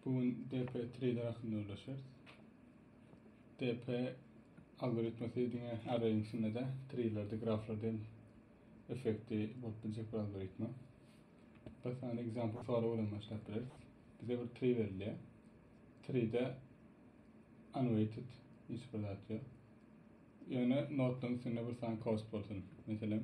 Bu gün DP Trader hakynda gürleşeris. DP algoritmasy diňe arrayň içinde-de treelerde, graflarda hem effekti bolup biljek bir algoritma. Bir sany example sorag bilen başlap bileris. Bize bir tree berilýär. Treede unweighted hiç bir zat ýok. Ýöne notlaryň üstünde bir sany cost bolsun. Meselem,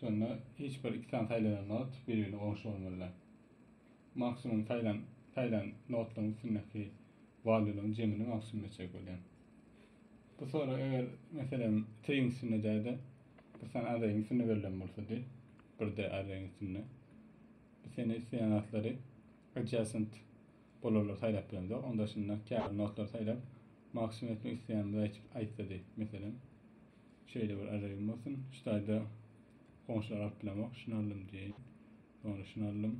Şonda hiç bir iki sany saýlanan not bir-birine goňşy bolmalydyr. Maksimum saýlan saýlan notlaryň üstündäki walýularyň jemini maksimum etjek bolýar. Bu sorag eger meselem tegiň üstünde däde bir sany arreýiň üstünde berlen bolsa diý, bir de arreýiň üstünde. Biz seni isleýän zatlary adjacent bolanlary saýlap bilemizok. Onda şunda käbir notlary saýlap maksimum etmek isleýänimizi aýtsa diý, meselem. Şeýle bir ajaýybym bolsun. Şu taýda goňşular alyp bilemok. Şuny aldym diýeýin. Soňra şuny aldym.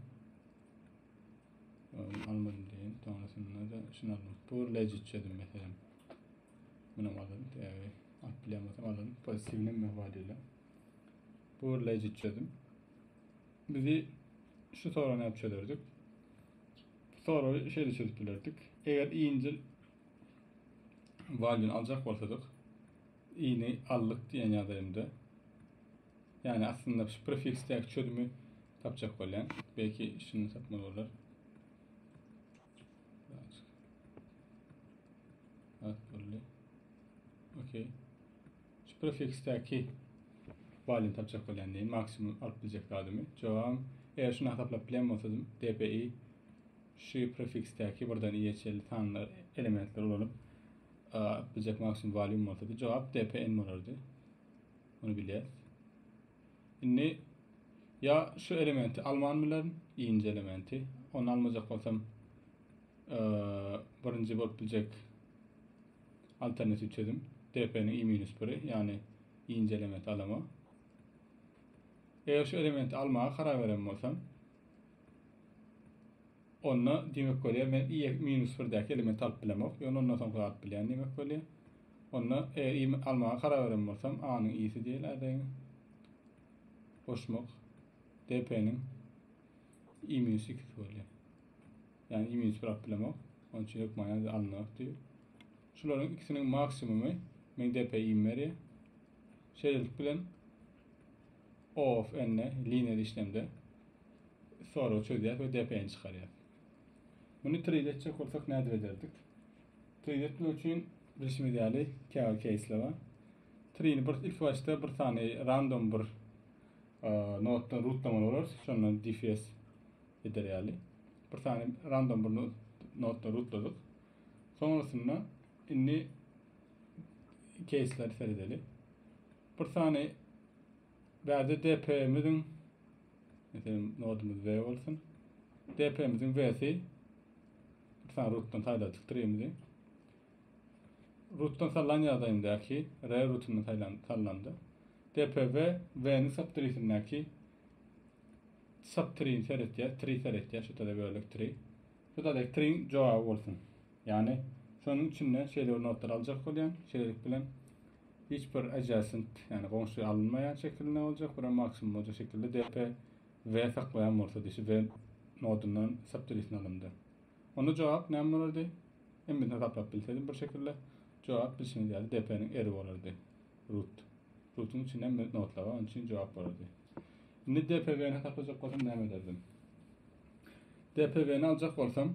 Ony almadym diýeýin. Soňrasynda-da şuny aldym. Bu bir legit çözüm meselem. Muny aldym. Eee, alyp bilen bolsam aldym. Pozitiwni mewwa diýle. Bu bir legit çözüm. Bizi şu sorany alyp çözerdik. Soragy şeýle çözüp bilerdik. Eger iýinjil valýun aljak bolsadyk, Ini aldyk diýen ýazaýynda. Ýani aslynda şu prefiksdäki çözümi tapjak bolýan. Belki şuny tapmaly bolar. At boldy. Okey. Şu prefiksdäki balyny tapjak bolýan diýin. Maksimum alyp biljek zadymy. Jogam, eger şuny hasaplap bilen bolsadym, DPI şu prefiksdäki birden iýeçeli sanlar elementleri ulanyp A ötmejek maksimum volüm bolsa da cevap dpn bolardy. Onu bilýäs. Indi ya şu elementi alman bilerin, ikinci elementi. Onu almajak bolsam e, birinci bolup biljek alternatif çözüm dp'nin i minus 1'i yani ikinci elementi alama. Eger şu elementi almaga karar veren bolsam Onda diýmek bolýar men i eger minus birdäki elementi alyp bilemok, ýöne ondan soňky zady bilýän diýmek bolýar. Onda eger i almaga karar beren bolsam, a-nyň i-si diýeli adayň. Goşmak dp-niň i minus ikisi bolýar. Ýani i minus bir alyp bilemok. Onuň üçin hökman ýa-da alynok diýip. Şularyň ikisiniň maksimumy meň dp-im berýär. Şeýlelik bilen OAuth ende liniýaly işlemde soragy çözýär we DPN çykarýar. Muny trade etjek bolsak nädip ederdik? Trade etmek üçin bilşimiz ýaly käbir keýsler bar. Trade bir ilk başda bir sany random bir notdan rutlamaly bolarys. Şondan DFS eder ýaly. Bir sany random bir notdan rutladyk. Soňrasynda indi keýsleri seredeli. Bir sany bärde DP-miziň meselem nodumuz V bolsun. DP-miziň V-si bir sany rutdan saýladyk stringimizi. Rutdan sallan ýagdaýyndaki R rutundan saýlan sallandy. DPV V-ni subtrisindäki subtrin seretýär, tri seretýär, şu tada bölek tri. Şu tada tri jogaby bolsun. Ýagny şonuň içinde şeýle bir notlar aljak bolýan. Şeýlelik bilen hiç bir adjacent, ýagny goňşy alynmaýan şekilinde boljak, bir hem maksimum boljak şekilde DP we saklaýan bolsa diýşi we nodundan subtreesini alanda. Onda jogap näme bolardy? Hem birini taplap bilsedim bir şekilde. Jogap bilşiňiz ýaly DP-niň eri bolardy. Root. Root-yň içinde hem notlar bar, onuň üçin jogap bolardy. Indi DPW-ni taplajak bolsam näme ederdim? DPW-ni aljak bolsam,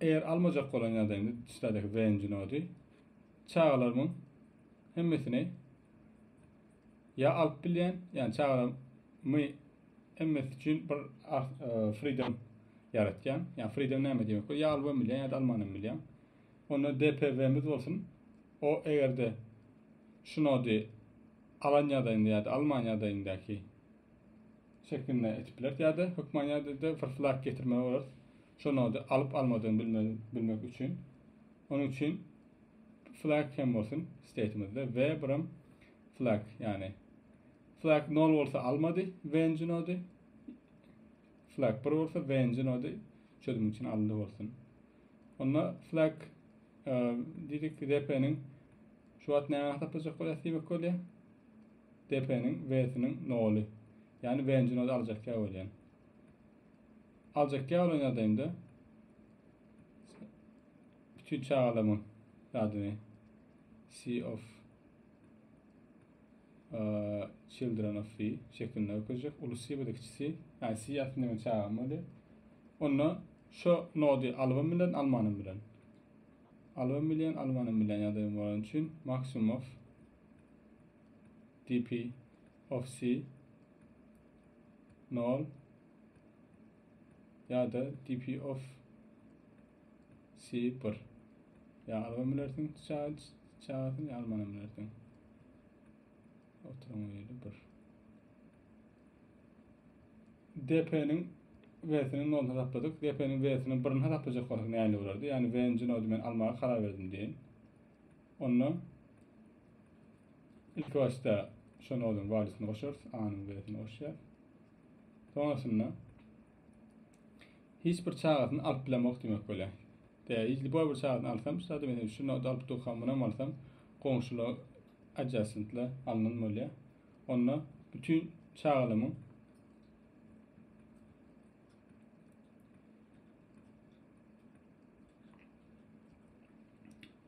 Eger almajak bolan ýagdaýymda çyradaki Venji nody çagalarymyň hemmesini ýa alyp bilýän, ýani çagalarmy hemmesi üçin bir e, freedom ýaratýan. Ýani freedom näme diýmek bu? Ýa alyp bilýän, ýa-da alman hem bilýän. Onda DPW-miz bolsun. O eger-de şu nody alan ýagdaýynda ýa-da alman ýagdaýyndaki Şeklinde etip bileris ýa-da hökman ýa-da fyrslap getirmeli bolarys. Şo nody alyp almadygyny bilmeli bilmek üçin. Onuň üçin flag hem bolsun state'imizde we biram flag ýagny flag 0 bolsa almady venci nody flag 1 bolsa venci nody çözüm üçin alyndy bolsun. Onda flag e, diýdik DP-niň şu wagt näme hasaplajak bolýar diýmek bolýar. Depeniň W-siniň noly. Ýagny W-nji noda aljakýa bolýan. Aljakýa bolan ýagdaýymda bütün çagalamyň adyny C of uh, children of C şeklinde görkezjek. Ulu C bu da kiçi C. Yani C aslında men çağam oluyor. Onda şu nodi alybam bilen almanım bilen. Alybam bilen almanım bilen ýagdaýym bolan üçin maksimum of DP of C nol ya da DP of C1 ya alma bilersiň çagasyn ya almana bilersiň oturan yeri 1 DP-niň V-sini 0 hesapladyk. DP-niň V-sini 1-ni hesaplajak bolsak näle bolardy? Ýani V-nji nody men almaga karar berdim diýen. Onda ilki başda şu noduň walisyny goşarys, A-nyň walisyny goşýar. Soňasynda hiç bir çagasyny alyp bilemok diýmek bolýar. Tä hiç bu bir çagasyny alsam, şu sady meni şu nodu alyp durkam, munam alsam, goňşular adjacent-le alnan bolýar. Onda bütün çagalamyň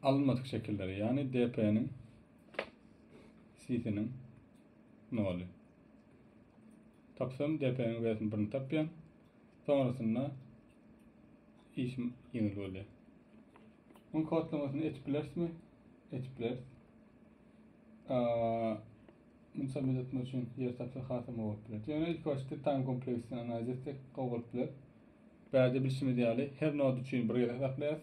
alynmadyk şekilleri, ýagny DP-niň, CC-niň noly. Tapsam DP-niň wesini birini tapýan. Sonrasynda işim ýeňil bolýar. Oň kodlamasyny etip bilerismi? Etip bileris. Misal medet üçin ýer tapsa hasam gowy bolup biler. Ýöne ilk başda tan kompleksini analiz etsek gowy bolup biler. Bärde bilşimiz ýaly, her nod üçin bir gezek saklaýarys.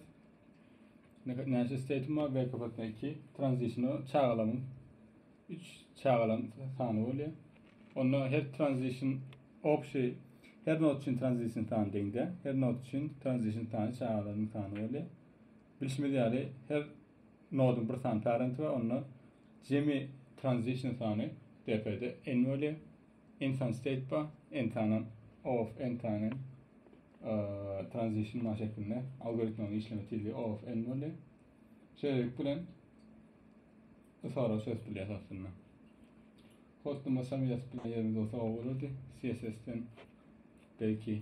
Näçe state'im bar? Wake up-da 2. Transition-a çagalamyň 3 çagalam sany bolýar. Onda her transition obşy her nod üçin transition sany deňde. Her nod üçin transition sany çagalaryň sany bolýar. Bilşimiz ýaly, her noduň bir sany parenti bar. Onda jemi transition sany DP-de n bolýar. Ensan Steýtba, Entanan, of Entanen, Transition Maş şeklinde algoritmanyň işleme tizligi of N bolýar. Şeýlelik bilen Isara söz bilýär aslynda. Hostum başam ýazyp bilen ýerimiz olsa o bolardy. CSS-den belki